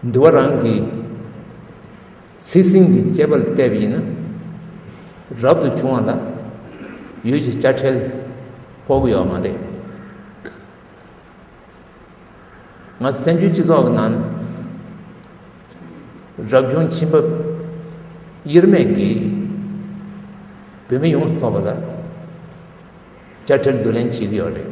འདུལ་བ་རང་གི་ཚིག་ཟིན་གྱི་དཔྱད་པར་བལྟས་པ་ཡིན་ན། རབ་ཏུ་བྱུང་བ་ལ་ཡུལ་གྱི་དཔྱ་ཁྲལ་ཕོག་གི་ཡོད་མ་རེད། ང་ཚོ་བཙན་བྱོལ་སྤྱི་ཚོགས་ཀྱི་ནང་རབ་བྱུང་བྱིན་འབབ་དབྱེར་མེད་ཀྱིས་བོད་མི་ཡོངས་སུ་ཐོབ་པ་ལ་དཔྱ་ཁྲལ་བསྡུ་ལེན་བྱེད་ཀྱི་ཡོད་རེད།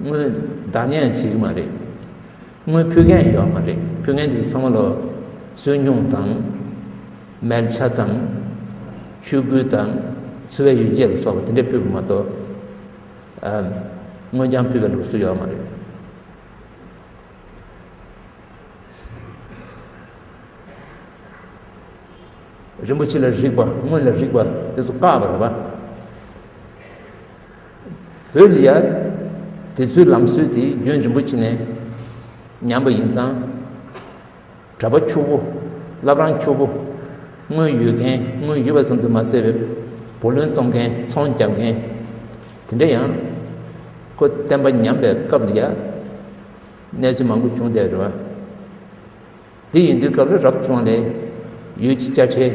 དངུལ་བདག་ངན་བྱེད་ཀྱི་མ་རེད། དངུལ་ཕུལ་མཁན་ཡོད་མ་རེད། ཕུལ་མཁན་དེ་ཚང་མ་ལ་སུན་སྙུང་དང། མལ་ཆ་དང། ཆུ་སྐུད་དང། འཚོ་བའི་ཡུལ་སྐྱེལ་ལ་སོགས་པ་དེ་འདྲས་ཕུལ་བ་མ་གཏོགས། དངུལ་རྐྱང་ཕུལ་བའི་ལུགས་སྲོལ་ཡོད་མ་རེད། རིན་པོ་ཆེ་ལ་རིག་པ་དངུལ་ལ་རིག་པ་དེ་ཚོ་བཀག་པ་རེད་པ། བོད་ལ་ཡང་དེ་ཚོའི་ལམ་སྲོལ་དེ་རྒྱུན་རིང་པོ་ཕྱིན་ནས་ཉམས་པ་ཡིན་ཙང། གྲྭ་པ་ཁྱོ་བོ་བླ་བྲང་ཁྱོ་བོ་དངུལ་ཡོད་མཁན་དངུལ་ཡོད་པ་ཙམ་དུ་མ་ཟད་པའི་བུ་ལོན་གཏོང་མཁན་ཚོང་རྒྱག་མཁན་དེ་འདྲ་ཡང་ཁོ་བསྟན་པ་ཉམས་པའི་སྐབས་ལ་ཡང་གནས་ཚུལ་མང་པོ་བྱུང་བསྡད་རེད་བ། དེ་ཡིན་དུས་སྐབས་ལ་རབ་བྱུང་ལས་ཡུལ་གྱི་དཔྱ་ཁྲལ།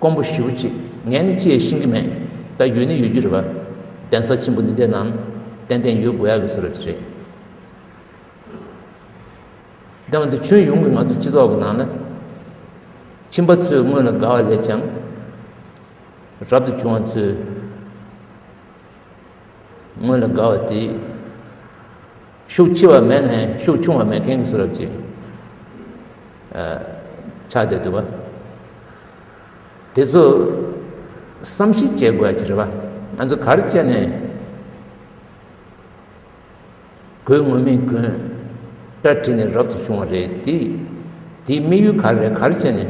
ཀོང་པོ་ཞུ་ཅིག་ངས་ནི་ཅིའི་ཤེས་ཀྱི་མེད་ད་ཡོད་ནི་ཡོད་རྒྱུ་རེད་བ། གདན་ས་ཆེན་པོ་འདི་འདྲའི་ནང་ཏན་ཏན་ཡོད་དགོས་ཡག་གི་ཚོད་རེད་བྱས། དེ་མ་ཐུབ་ཁྱོད་ཡོང་གི་ང་ཚོ་སྤྱི་ཚོགས་ཀྱི་ནང་ན་ཁྱིམ་པ་ཚོས་སྔོན་ལ་དགའ་བ་ལས་ཀྱང་རབ་ཏུ་བྱུང་བ་ཚོས་སྔོན་ལ་དགའ་བ་དེ། ཤུགས་ཆེ་བ་མེད་ནས་ཤུགས་ཆུང་བ་མེད་མཁན་གྱི་གསུང་རབ་ཅིག་ཆགས་བསྡད་འདུག་པ་དེ་ཚོ་བསམ་གཞིག་བྱེད་དགོས་ཅི་རེད་པ་ང་ཚོ་གར་བཅད་ནས་གོས་ངོ་མི་གོས་སྐྲ་བྲིས་ནས་རབ་ཏུ་བྱུང་བ་རེད་དེ་དེ་དམིགས་ཡུལ་ག་རེད་གར་བཅད་ནས་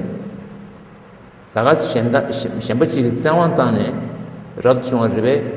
ད་ག་གཞན་ད་གཞན་པ་ཞིག་གི་བཙན་དབང་བཏང་ནས་རབ་ཏུ་བྱུང་བ་རེད་པས་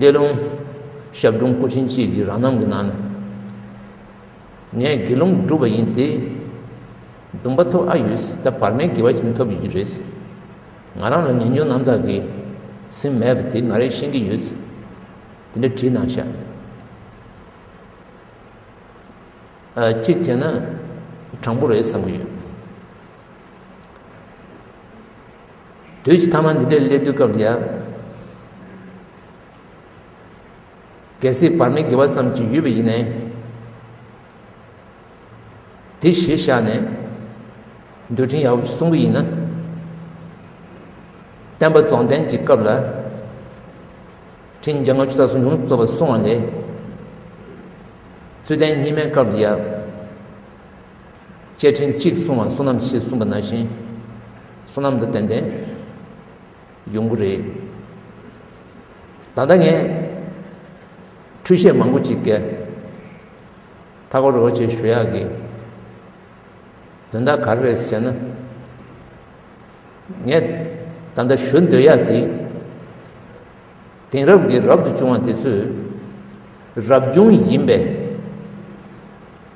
ལས་རླུང་ཞབས་དྲུང་སྐུ་ཕྲེང་གཅིག་གིས་རང་རྣམ་གྱི་ནང་ན་ངས་དགེ་སློང་བསྒྲུབས་པ་ཡིན་ཏེ། སྡུམ་པ་ཐོབ་ཨ་ཡོད་ད་བར་མའི་དགེ་བ་ཅན་ཐོབ་ཡོད་རེད་ཟེར། ང་རང་ལ་ངན་སྨྱོན་རྣམ་དག་གིས་ཟིན་མེད་པ་དེ་ང་རེད་ཤེས་ཀྱི་ཡོད་ཟེར། དེ་འདྲ་བྲིས་གནང་ཤག། གཅིག་བྱས་ན་དྲང་པོ་རེད་བསམ་གྱི་ཡོད། དུས་ཀྱི་ཐ་མ་འདི་འདྲའི་སླད་དུས་སྐབས་ཀྱི། གལ་སྲིད་བར་མའི་དགེ་བ་ཙམ་གྱིས་ཡུས་པ་ཡིན་ནས། དེ་གཞིར་བཞག་ནས། འདུལ་ཕྲིན་ཡག་པོ་ཞིག་གསུང་གི་ཡིན་ན། བསྟན་པ་རྫོང་བསྟན་གྱི་སྐབས་ལ། ཕྲིན་བརྒྱ་ལྔ་བཅུ་རྩ་གསུམ་ཡོངས་སུ་རྫོགས་པར་གསུང་བ་ལས། ཚུལ་ལྡན་གཉིས་མེད་སྐབས་ལ་ཡང། བཅས་ཕྲིན་གཅིག་བསྲུང་བ་བསོད་ནམས་ཞེས་གསུངས་པ་ན་བཞིན་བསོད་ནམས་དང་ལྡན་པའི་ཡོང་སྒོ་རེད། ད་ལྟ་ངས་འཕྲུལ་ཆས་མང་པོ་ཅིག་བཀལ། ཐ་གོ་རོ་བ་ཅེས་ཞུ་ཡག་གི་དོན་དག་ག་རེ་རེད་ཟེར་ན། ངས་ད་ལྟ་ཞུ་འདོད་ཡག་དེ། དེང་རབས་ཀྱི་རབ་ཏུ་བྱུང་བ་དེ་ཚོས་རབ་བྱུང་ཡིན་པས།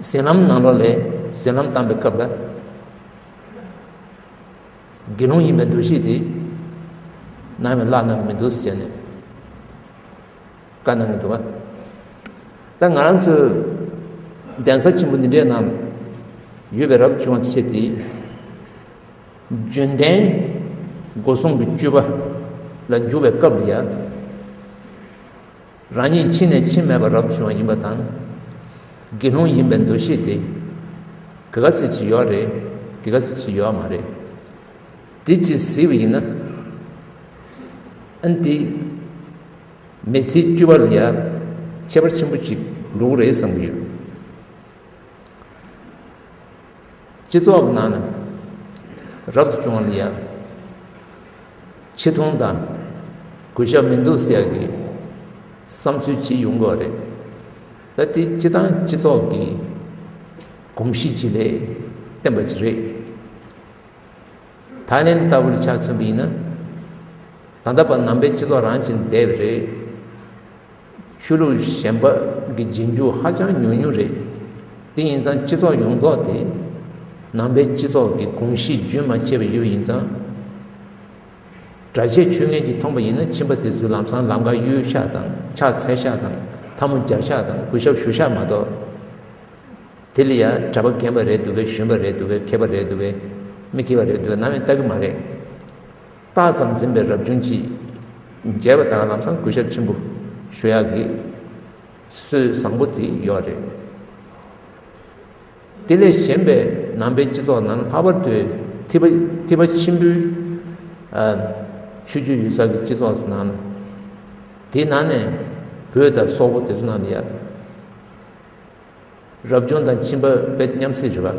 ཟིན་ལམ་ནང་ལོགས་ལས་ཟིན་ལམ་བཏང་པའི་སྐབས་ལ། དགེ་སློང་ཡིན་པའི་འདུ་ཤེས་དེས། ནང་བའི་བླ་ན་མི་འདུག་ཟེར་ནས་བཀའ་གནང་གི་འདུག་བ། ད་ང་རང་ཚོའི་གདན་ས་ཆེན་པོ་འདི་འདྲའི་ནང་ཡོད་པའི་རབ་བྱུང་བ་ཆེ་དེས། རྒྱུན་ལྡན་སྒོ་སྲུང་གི་སྤྱོད་པ་ལ་འཇུག་པའི་སྐབས་ལ་ཡང། རང་ཉིད་ཕྱི་ནས་ཕྱི་མེད་པ་རབ་ཏུ་བྱུང་བ་ཡིན་པ་དང། དགེ་སློང་ཡིན་པའི་འདུ་ཤེས་དེ། ག་གཱ་ཚིགས་སུ་ཡོད་རེད་གི་ག་གཱ་ཚིགས་སུ་ཡོད་མ་རེད། དེ་གཅིག་གཟིགས་པ་ཡིན་ན། ཨན་ཏི། མེ་ཚིལ་བཅུ་བ་ལ་ཡང་ཁྱད་པར་ཆེན་པོ་གཅིག་འགྲོ་གི་རེད་བསམ་གྱི་ཡོད། སྤྱི་ཚོགས་ནང་ནས་རབ་ཏུ་བྱུང་བ་ཡང་ཆེ་མཐོང་དང་གུས་ཞབས་མི་འདུག་ཟེར་གི་བསམ་ཚུལ་ཅིག་ཡོང་གི་རེད། ད་དེ་སྤྱི་དང་སྤྱི་ཚོགས་ཀྱི་གོམས་གཤིས་ཅིག་ལས་བསྟན་པ་ཅིག་རེད། ཐའི་ལེན་ལྟ་བུར་ཆ་མཚོན་པ་ཡིན་ན། ད་ལྟ་བར་ནང་པའི་སྤྱི་ཚོགས་རང་གཅིག་བསྡད་པ་རེད། ཆོས་ལུགས་གཞན་པ་གི་རྗེས་འཇུག་ཧ་ཅང་ཉུང་ཉུང་རེད། དེ་ཡིན་ཙང་སྤྱི་ཚོགས་ཡོངས་རྫོགས་དེ་ནང་པའི་སྤྱི་ཚོགས་ཀྱི་གོམས་གཤིས་རྒྱུན་མ་ཆད་པ་ཡོད་ཡིན་ཙང། གྲྭ་ཆས་ཆོས་ངན་གྱིས་འཐོངས་པ་ཡིན་ན་ཕྱིན་པ་དེ་ཚོའི་ལམ་སང་ལམ་ཁར་གཡུལ་ཤག་དང་ཕྱག་འཚལ་ཤག་དང་འཐབ་མོ་རྒྱབ་ཤག་དང་གུས་ཞབས་ཞུ་ཤག་མ་གཏོགས། དེ་ལ་ཡང་གྲྭ་པ་རྒན་པ་རེད་འདུག་གས་གཞོན་པ་རེད་འདུག་གས་མཁས་པ་རེད་འདུག་གས་མི་མཁས་པ་རེད་འདུག་གས་ནམ་ཡང་ལྟ་གི་མ་རེད། རྟགས་ཙམ་འཛིན་པའི་རབ་བྱུང་ཅི། རྒྱལ་བ་དྭངས་ལམ་བཟང་གུས་ཞབས་ཆེན་པོ། ཞུ་ཡག་གི། སྲོལ་བཟང་པོ་དེ་ཡོད་རེད། དེ་ལས་གཞན་པའི་ནང་པའི་སྤྱི་ཚོགས་ནང་ལྷག་པར་དུ། ཐི་བ་ཆེན་པོའི། ཆོས་བརྒྱུད་ཡུལ་ས་གི་སྤྱི་ཚོགས་སུ་ནང་ན། དེའི་ནང་ནས། བོད་དང་སོག་པོ་དེ་ཚོ་ནང་ན་ཡ། རབ་བྱུང་དང་ཁྱིམ་པ་བོད་མཉམ་སྲིད་རེད་པ།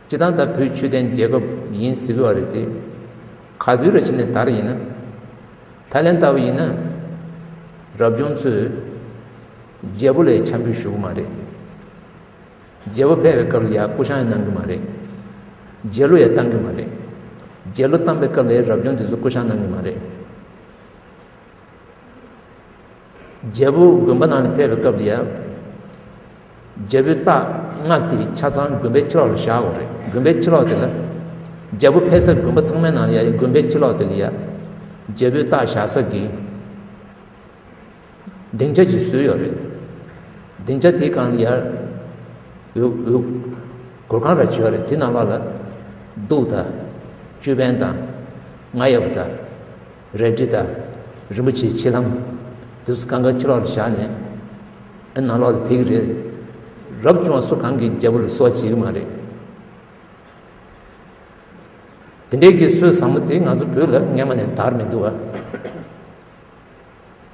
སྤྱི་བཏང་ད་བུད་ཆུ་ལྡན་རྒྱལ་ཁབ་ཡིན་གཟིགས་གི་བ་རེད་དེ། ག་དུས་ར་ཕྱི་ནས་དར་ཡིན་ན། ད་ལན་ལྟ་བུ་ཡིན་ན། རབ་བྱུང་ཚོས། རྒྱལ་པོ་ལས་འཆམ་འབུད་ཞུ་གི་མ་རེད། རྒྱལ་པོ་ཕལ་བའི་སྐབས་ལ་ཡ་སྐུ་ཤང་ཡ་གནང་གི་མ་རེད། རྒྱལ་ལོ་ཡ་བཏང་གི་མ་རེད། རྒྱལ་ལོ་བཏང་པའི་སྐབས་ལ་ཡ་རབ་བྱུང་དེ་ཚོ་སྐུ་ཤང་གནང་གི་མ་རེད། རྒྱལ་པོ་དགོན་པ་ནང་ནས་ཕེབས་པའི་སྐབས་དེ་ཡང། རྒྱལ་པོའི་རྟགས་སྔགས་དེ་ཆ་ཚང་དགོན་པའི་ཕྱི་ལོགས་ལ་བཞག་འོང་རེད་དགོན་པའི་ཕྱི་ལོགས་དེ་ལ། རྒྱལ་པོ་ཕེབས་སར་དགོན་པ་ཚང་མའི་ནང་ལ་ཡ་ཡི་དགོན་པའི་ཕྱི་ལོགས་དེ་ལ་ཡ། རྒྱལ་པོའི་རྟགས་བཞག་ས་གི། སྡིངས་ཆ་ཞིག་བཟོས་ཡོད་རེད། སྡིངས་ཆ་དེའི་གང་ལ་ཡ། གུར་ཁང་ར་བྱས་རེད་དེ་ནང་ལོགས་ལ། གདུགས་དང། ཅོད་པན་དང། ང་ཡབ་དང། རལ་གྲི་དང། རིན་པོ་ཆེའི་ཕྱེ་ལྷམ། དུས་སུ་གང་གཱའི་ཕྱི་ལོགས་ལ་བཞག་ནས། ཨེ་ནང་ལོགས་ལ་ཕེབས་ཀྱི་རེད། རབ་བྱུང་བ་སུ་གང་གིས་རྒྱལ་པོ་ལ་སྲོག་བྱེད་ཀྱི་མ་རེད། དེ་འདྲའི་གི་སྲོལ་བཟང་པོ་དེ་ང་ཚོ་བོད་ལ་སྔན་མ་ནས་དར་མི་འདུག་ཨ།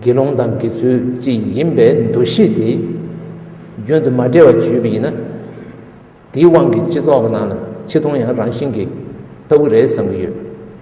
དགེ་སློང་དང་དགེ་ཚུལ་གཅིག་ཡིན་པའི་འདུ་ཤེས་དེ་རྒྱུན་དུ་མ་འབྲལ་བར་བརྗོད་པ་ཡིན་ན། དེའི་དབང་གིས་སྤྱི་ཚོགས་ནང་ལ་ཆེ་མཐོང་ཡང་རང་བཞིན་གྱིས་ལྟ་བུ་རེད་བསམ་གྱི་ཡོད།